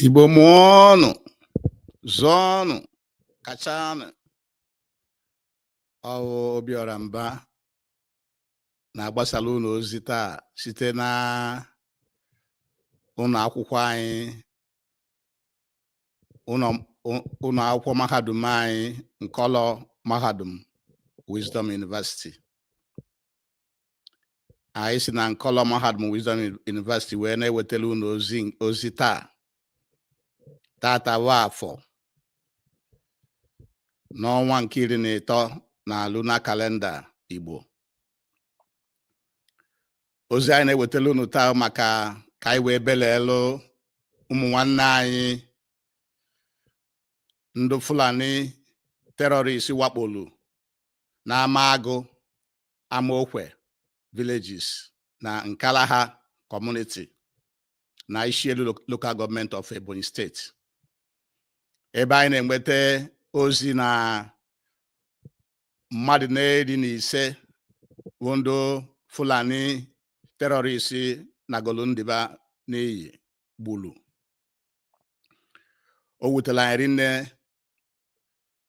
Igbo mụọnụ zụọnụ kachanụ ọ wụ Obiọra Mba na-agbasara unu ozi taa site na ụnọ akwụkwọ anyị ụnọ akwụkwọ mahadum anyị nkọlọ mahadum Wisdom University anyị si na nkọlọ mahadum Wisdom University wee na-ewetara unu ozi taa tata bụ afọ n'ọnwa nke iri na ịtọ na lunar calendar Igbo ozi anyị na-ewetara unu taa maka ka anyị wee belelu ụmụ nwanne anyị ndị Fulani terrorist wakpolu n'Amagụ Amaokwe villages na Nkalaha community na Ishielu local government of Ebonyi State ebe anyị na-enweta ozi na mmadụ n'iri na ise bụ ndị Fulani terrorist nagolu ndụ ba n'iyi gbulu o wutela anyị rinne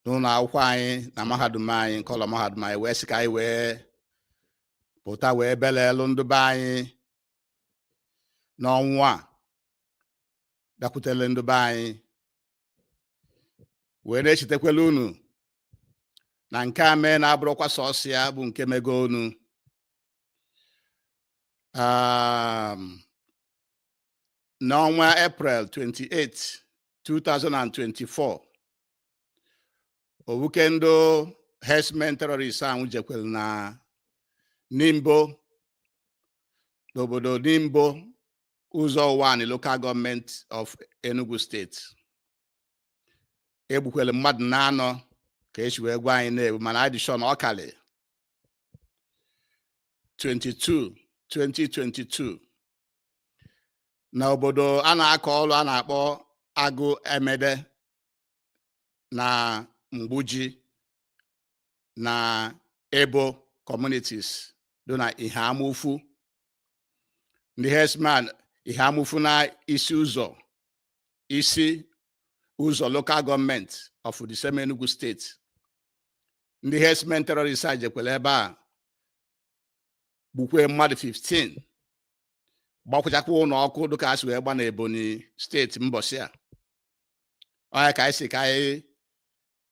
n'ụnọ akwụkwọ anyị na mahadum anyị nkọlọ mahadum anyị wee sị ka anyị wee pụta wee belelu ndị be anyị n'ọnwụ a bịakwutele ndị be anyị wee na-echetakwala unu na nke a mee na abụrọkwa sọsọ ya bụ nke mego unu um, n'ọnwa April 28 2024 ọ wụ ka ndị herdsmen terrorist ahụ jekwere na Nimbo n'obodo Nimbo Ụzọ Ụwanị local government of Enugu State e gbukwere mmadụ n'anọ ka e si wee gwa anyị na e gbu mana a dị sị na ọ kalị 22 2022 na obodo a na-akọ ọrụ a na-akpọ Agụ Amede na Mgbuji na Ebo communities dụ na Eha Amufu ndị herdsmen Eha Amufu na Isi Ụzọ Isi Ụzọ local government of the same Enugu State ndị herdsmen terrorist a jekwere ebe a gbukwee mmadụ 15 gbakwụchakwa ụnọ ọkụ dịka e si wee gba na Ebonyi State mbọsị a ọ ya ka anyị sị ka anyị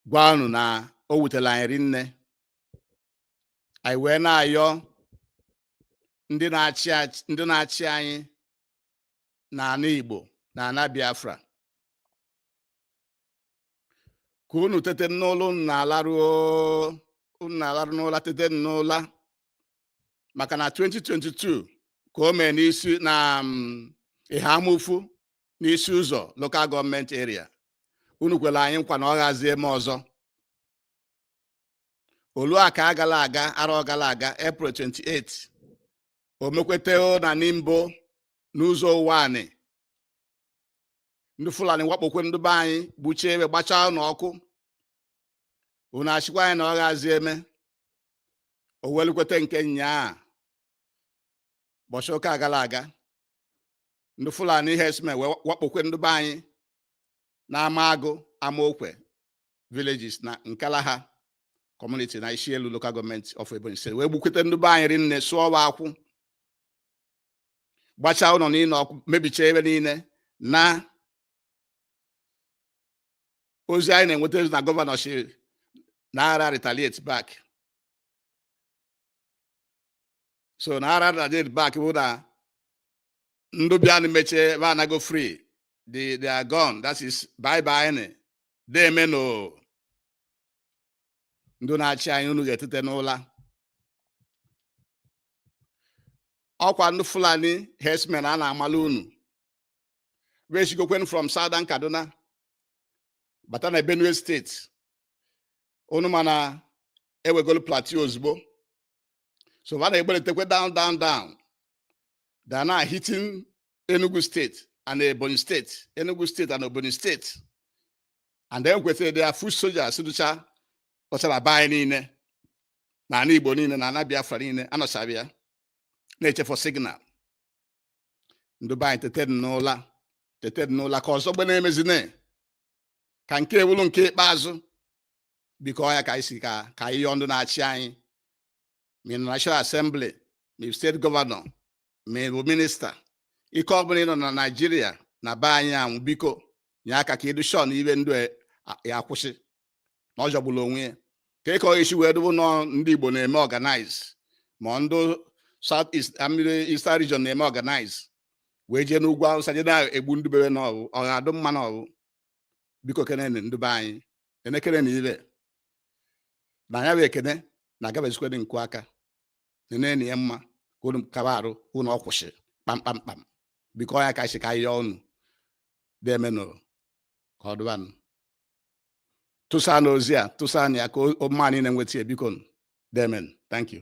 gwa unu na o wutela anyị rinne anyị wee na-ayọ ndị na-achị anyị na ana Igbo na ana Biafra ka unu tete n'ụla unu na-alarụ n'ụla tete n'ụla maka na 2022 ka o mee n'isi na mm, Eha Amufu n'Isi Uzo local government area unu kwere anyị nkwa na ọ ghazie eme ọzọ o lu aka agala aga arọ gara aga April 28 o mekweta na Nimbo n'Uzo Uwani ndị Fulani wakpokwe ndị be anyị gbuchie ebe gbachaa na ọkụ unu asịkwa anyị na ọ ghazi eme o wee lukweta nke nyaa ụbọchị ụka gara aga ndị Fulani herdsmen wee wakpokwe ndị be anyị na Amagụ Amaokwe villages na Nkalaha community na Ishielu local government of Ebonyi State wee gbukwete ndị be anyị rinne sụọ wa ọkụ gbachaa ụlọ niile ọkụ mebichaa ebe niile na ozi anyị na-enweta na governor si na ara retaliate back so na ara retaliate back bụ na ndị bịanụ mechie ebe anago free the they are gone that is bye bye ni demenụ ndị na-achị anyị unu ga-etete n'ụla ọkwa ndị Fulani herdsmen a na-amala unu we sigokwen from Southern Kaduna bata na Benue State unu ma na ewegolu Plateau ozugbo so ha na-egbelitekwe down down down they are now hitting Enugu State and Ebonyi State Enugu State and Ebonyi State and then kwetara their foot soldiers dụcha ọchara be anyị niile na ana Igbo niile na ana Biafra niile anọcha be ya na-eche for signal ndị be anyị tete n'ụla tete n'ụla ka ọzọ gbe na-emezine ka nke a wụlụ nke ikpeazụ biko ọ ya ka anyị si ka ka anyị yọọ ndị na-achị anyị ma ị nọ National Assembly ma ị state governor ma ị bụ minister ike ọ bụla ị nọ na Nigeria na be anyị anwụ biko nye aka ka igbu ọchụ na iwe ndụ e, a- ya akwụsị na ọ jọgburu onwe ya ka ịkọ isi wee dụ bụ na ọ ndị Igbo na-eme organize ma ndị South East I mean Eastern region na-eme organize wee jee n'ugwu Awụsa jee na-egbu ndị bi ebe n'ọhụ ọ ga-adụ mma n'ọhụ biko kenenụ ndị be anyị enekene na ibe na ya bụ ekene na-agabezikwere nkụ aka nenenu ya mma ka unu kaba arụ unu ọ kwụsị kpamkpamkpam biko ọ ya ka si ka anyị yọọ unu demenụ ka ọ dụbanụ tụsanụ ozi a tụsanụ ya ka o- o mma niile nweta ya biko demenụ thank you